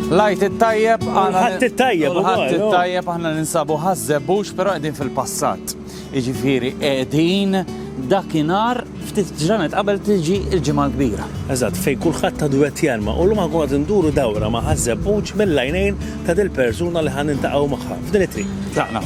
Lajt it-tajjeb, għalħat it-tajjeb, għalħat it-tajjeb, għanna ninsabu ħazzebbux, pero għedin fil-passat. Iġifiri, għedin dakinar ftit ġranet qabel tiġi il-ġimgħa kbira. Eżatt, fej kulħadd ta' duet jarma u l-ma għad induru dawra ma ħazzebbux mill-lajnejn ta' dil-persuna li ħan intaqgħu magħha f'din it-triq. Taqna.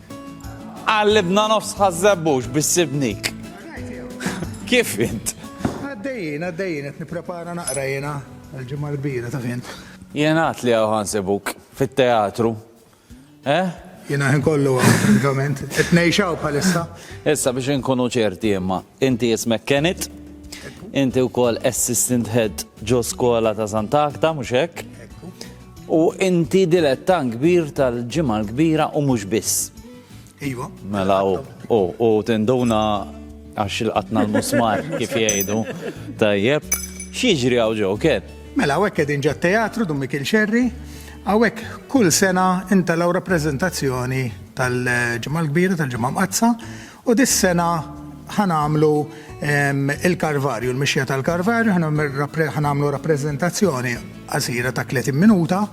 Qallibna nofs Ħaż-Żebbuġ bis-Sibnik. Kif int? Għaddejjin, għaddejjin qed nipprepara naqra jiena l-ġimgħa l-kbira taf int. Jingħad li hawn ħansibuk fit-teatru. Eh? Jiena ħin kollu hawn, frankament. Qed ngħix hawn bħalissa. Issa biex inkunu ċerti imma, inti ismek Kenneth, inti wkoll assistant head ġo skola ta' Sant'Agħta, mhux hekk? U inti dilettan kbir tal-Ġimgħa l-Kbira u mhux biss. Iva. Mela u u u tinduna għax il-qatna l-musmar kif jgħidu. Tajjeb. X'jiġri hawn ġew kien? Mela hawnhekk qegħdin ġat teatru Dun Mikiel Xerri. Hawnhekk kull sena intelgħu rappreżentazzjoni tal-Ġimgħa l-Kbira tal-Ġimgħa Mqaddsa U dis-sena ħa nagħmlu l-Karvarju, l-mixja tal-Karvarju, ħa nagħmlu rappreżentazzjoni qasira ta' tletin minuta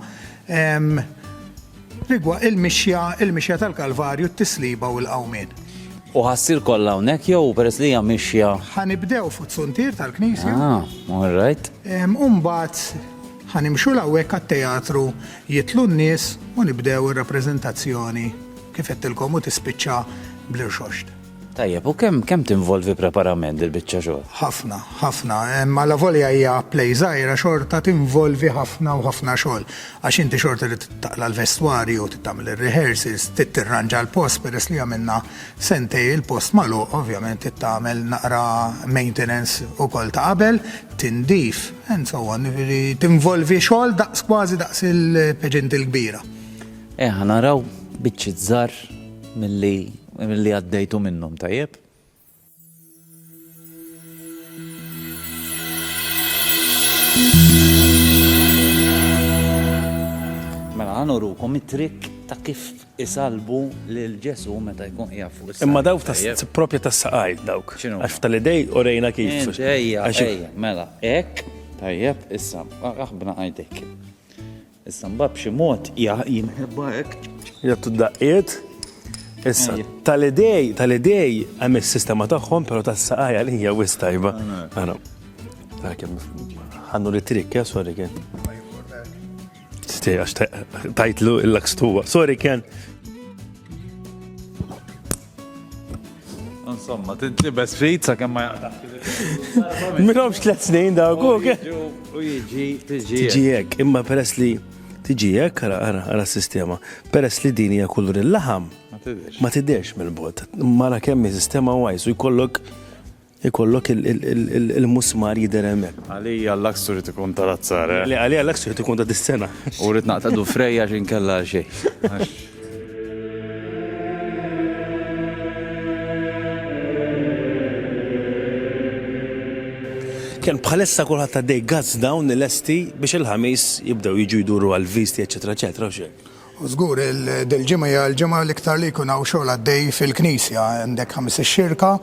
rigward il-mixja, il-mixja tal-Kalvarju, t-tisliba u l-qawmien. U ħa ssir kollha hawnhekk jew peress li hija mixja? Ħa nibdew fuq suntier tal-knisja. Ah, all right. U mbagħad ħa nimxu 'l hawnhekk għat-teatru, jidħlu n-nies u nibdew ir-rappreżentazzjoni. Kif għedtilkom u tispiċċa bl-irxoxt. Tajjeb, u kemm kemm tinvolvi preparament il-biċċa xogħol? Ħafna, ħafna. Ma la volja hija play żgħira xorta tinvolvi ħafna u ħafna xogħol. Għax inti xorta li taqla l-vestwarju, tagħmel ir-rehearsals, tittirranġa l-post peress li għamilna sentej il-post malu, ovvjament tagħmel naqra maintenance ukoll ta' qabel, tindif, and so on, tinvolvi xogħol daqs kważi daqs il-peġent il-kbira. Eh ħa naraw biċċiet żgħar milli milli għaddejtu minnhom tajjeb. Mela ħa nurukom it-trikk ta' kif isalbu lil Ġesu meta jkun qiegħed fuq is-saqaj. Imma dawk tas- Tajjeb. propja tas-saqaj dawk. X'inhu? Għax tal-idej u rejna kif. Int, Ejja, Għax- ejja, mela, hekk, tajjeb, issa, aħbna għajdek. Issa mbagħad b'xi mod jimħebba hekk. Jagħtu d-daqqiet. Issa, tal-idej, tal-idej hemm is-sistema tagħhom, però tas-saqajja li hija wis tajba. Ara. Ħannu li trik, ja, sorry kien. Stej, għax tajtlu il-lakstuwa. Sorry kien, Insomma, tintibes ftit sa kemm ma jaqtax. Minhomx tliet snin dawk. U jiġi tiġijek. Imma peress li tiġijek, ara ara ara sistema. Peress li din hija kulur il-laħam. Ma tidhirx mill-bot. Mara kemm sistema wajs u jkollok Ikollok il-musmar jidher hemmhekk. Għalija l-laks irid ikun ta' l-azzar, eh? Le, għalija l-laks irid ikun ta' dis-sena. U rrid naqtgħdu frej għax inkella għal xejn. Ken, bħalissa kulħadd għaddej gazz dawn lesti biex il-Ħamis jibdew jiġu jduru għall-visti eċċetera eċċetera, u x'hekk. U żgur dil-ġimgħa hija l-ġimgħa l-iktar li jkun hawn xogħol għaddej fil-Knisja, għandek ħamis ix-Xirka,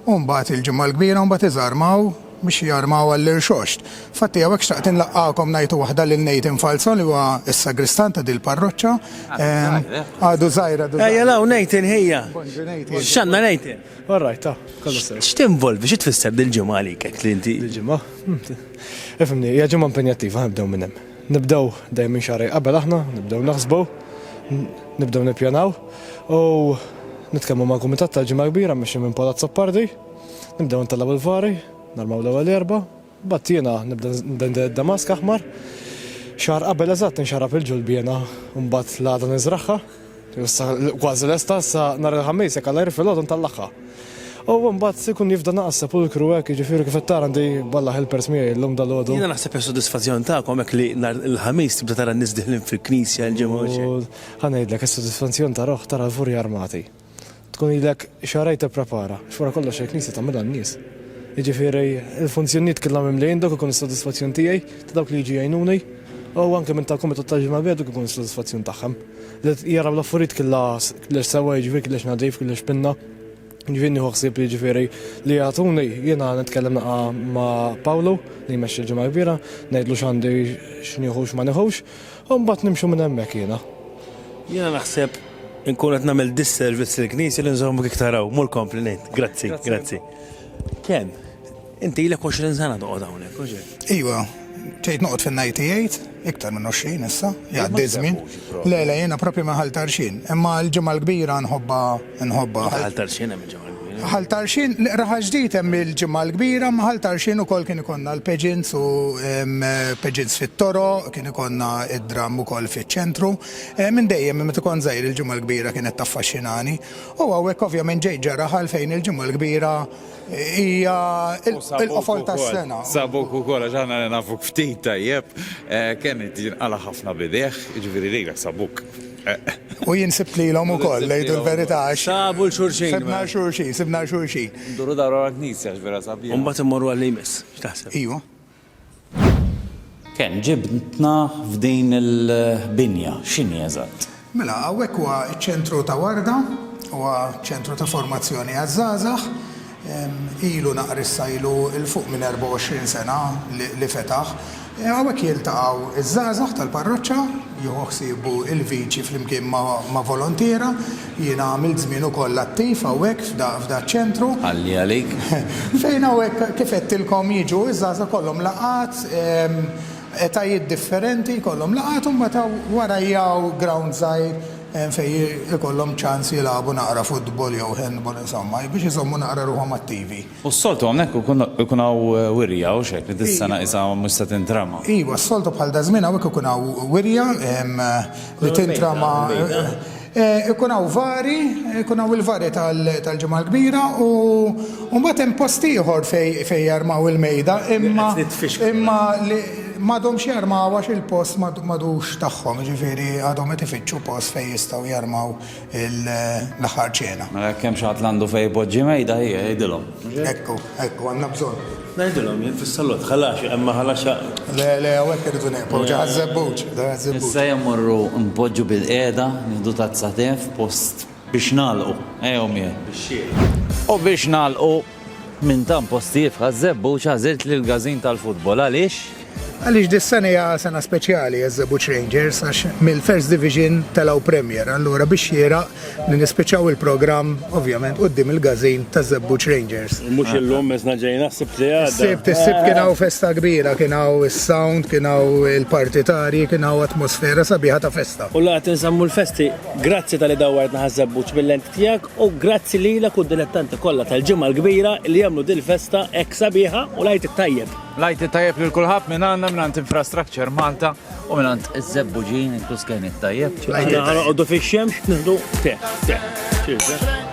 u mbagħad il-Ġimgħa l-Kbira u mbagħad iżarmaw biex jarmaw għall-Irxoxt. Fatti hawnhekk xtaqt inlaqqagħkom ngħid waħda lil Nathan Falzon li huwa s-Sagristan ta' dil-parroċċa. Għadu żgħir, għadu żgħir. Ejja law Nathan ħejja. Bonġu Nathan. X'għandna Nathan? All right, ta, kollu sew. X'tinvolvi, xi tfisser dil-ġimgħa għalik hekk li inti? Dil-ġimgħa? Ifhimni, hija ġimgħa impenjattiva, nibdew minn hemm. Nibdew dejjem minn xahrej qabel aħna, nibdew naħsbu, nibdew nippjanaw u nitkellmu mal-kumitat tal-Ġimgħa l-Kbira mmexxi minn Paul Azzopardi, nibdew intellgħu l-vari, narmaw l-ewwel erba', mbagħad jiena nibda nbendel id-damask aħmar, xahar qabel eżatt inxarrab il-ġulbiena u mbagħad l-għada niżragħha. Issa kważi lesta sa nhar il-Ħamis jekk Alla jirfi l-għodon tal-laħħa. U mbagħad se jkun jifda naqas sepulkru hekk, jiġifieri kif qed tara għandi balla helpers miegħi llum dalgħodu. Jiena naħseb hija sodisfazzjon tagħkom hekk li nhar il-Ħamis tibda tara n-nies diħlin fil-knisja il-ġimgħa. Ħa ngħidlek, is-sodisfazzjon ta' ruħ tara l-vuri armati. Tkun ilek xahrejn tipprepara, għax wara kollox il-Knisja tagħmilha n-nies. Jiġifieri l-funzjonijiet kollha mimlijin dawk ikun is-sodisfazzjon tiegħi, ta' dawk li jiġu jgħinuni, u anke minn tal-Kumitat tal-Ġimgħa-l-Bira dak ikun is-sodisfazzjon tagħhom. Li jaraw l-affarijiet kollha lex sewwa, jiġifieri lex nadif, lex pinna. Jiġifieri nieħu ħsieb jiġifieri li jagħtuni, jiena nitkellem naqa' ma' Pawlu li jmexxi l-Ġimgħa-l-Kbira, ngħidlu x'għandi x'nieħu x'ma nieħux, U mbagħad nimxu minn hemmhekk jiena. Jiena naħseb inkun qed nagħmel disservice lill-Knisja li nżommok iktar hawn, mur kompli ngħid. Grazzi, grazzi. Ken, inti ilek 20 sena toqgħod hawnhekk, mhux hekk? Iva, ġejt noqgħod fin-98, iktar minn 20 issa, jgħaddi żmien. Le, le, jiena propju minn Ħal Tarxien, imma l-ġimgħa l-kbira nħobba nħobba. Ħal Tarxien hemm Ħal Tarxien, l-Iqra Ħaġdid hemm il-Ġimgħa l-Kbira, imma Ħal Tarxien ukoll kien ikollna l-pageants u pageants fit-toroq, kien ikollna d-dramm ukoll fiċ-ċentru. Minn dejjem, minn meta kont żgħir il-Ġimgħa l-Kbira kienet taffaxxinani. U hawnhekk ovvjament ġejt ġara Ħal fejn il-Ġimgħa l-Kbira hija l-qofol tas-sena. U sabuk ukoll għax aħna li nafuk ftit tajjeb, kien jinqala' ħafna b'idejh, jiġifieri lilek sabuk. U jien sibt lilhom ukoll, ngħidu l-verità, għax. Sabu 'l xulxin. Sibna 'l xulxin, sibna 'l xulxin. Nduru dawra l-knisja għax vera sabiħa. U mbagħad immorru għal li jmiss, x'taħseb? Ejwa. Kemm ġibtna f'din il-binja, x'inhi eżatt? Mela, hawnhekk huwa ċ-ċentru ta' Warda, huwa ċentru ta' formazzjoni għaż-żgħażagħ, Ilu naqra issa ilu 'l fuq minn 24 sena li fetaħ. Hawnhekk jiltaqgħu ż-żgħażagħ tal-parroċċa, jieħu ħsiebu l-viċi flimkien ma' volontiera. Jiena għamilt żmien ukoll attiv hawnhekk f'daċ-ċentru. Ħalli għalik. Fejn hawnhekk, kif għedtilkom, jiġu ż-żgħażagħ jkollhom laqgħat, etajiet differenti jkollhom laqgħat u mbagħad wara jgħu ground żgħir, hemm fejn ikollhom ċans jilagħbu naqra futbol jew handball insomma biex iżommu naqra ruħhom attivi. U s-soltu hawnhekk ikun hawn wirja, hux hekk, li dis-sena qisha mhux se tintrama? Iva, s-soltu bħal daż-żmien hawnhekk ikun hawn wirja li tintrama ikun hawn vari, ikun hawn il-vari tal-Ġimgħa l-Kbira u mbagħad hemm post ieħor fejn jarmaw il-mejda imma imma li M'għadhomx jarmaw għax il-post m'għadux tagħhom, jiġifieri għadhom qed ifittxu post fejn jistgħu jarmaw l-aħħar ċena. Mela jekk hemm xi ħadd li għandu fejn ipoġġi mejda ħieħ jgħidilhom. Ekku, ekku, għandna bżonn. Ngħidilhom jien fis-salott, ħalaxi, hemm ma' ħalaxa. Le, le, hawnhekk irridu nieqfu, ġo għaż-żebbuġ, ġo għaż-żebbuġ. Issa jew mmorru npoġġu bilqiegħda, nieħdu tazza te f'post. Biex nagħlqu, ejjew miegħi bix-xieraq. U biex nagħlqu, minn tant posti jifħa ż-żebbuġ għażilt lill-gażin tal-futbol. Għaliex? Għaliex dis-sena hija sena speċjali għaż-Żebbuġ Rangers għax mill-First Division telgħu Premier. Allura bix-xieraq li nispiċċaw il-programm ovvjament quddiem il-gażin taż-Żebbuġ Rangers. Mhux illum, is-sena ġejna, s-Sibt li għadda. Is-Sibt, is-Sibt kien hawn festa kbira, kien hawn is-sound, kien hawn il-partitarji, kien hawn atmosfera sabiħa ta' festa. U la qed inżammu l-festi? Grazzi tal-li dawwartna ħaż-żebbuġ mill-lenti tiegħek u grazzi lilek u d-dilettanti kollha tal-Ġimgħa l-Kbira li jagħmlu dil-festa hekk sabiħa u l-Għid it-Tajjeb. L-Għid it-Tajjeb lil kulħadd minn għandna, minn għand Infrastructure Malta u minn għand iż-żebbuġin Tusken it-Tajjeb. Aħna ħanoqogħdu fix-xemx nieħdu te, te. Cheers, eh?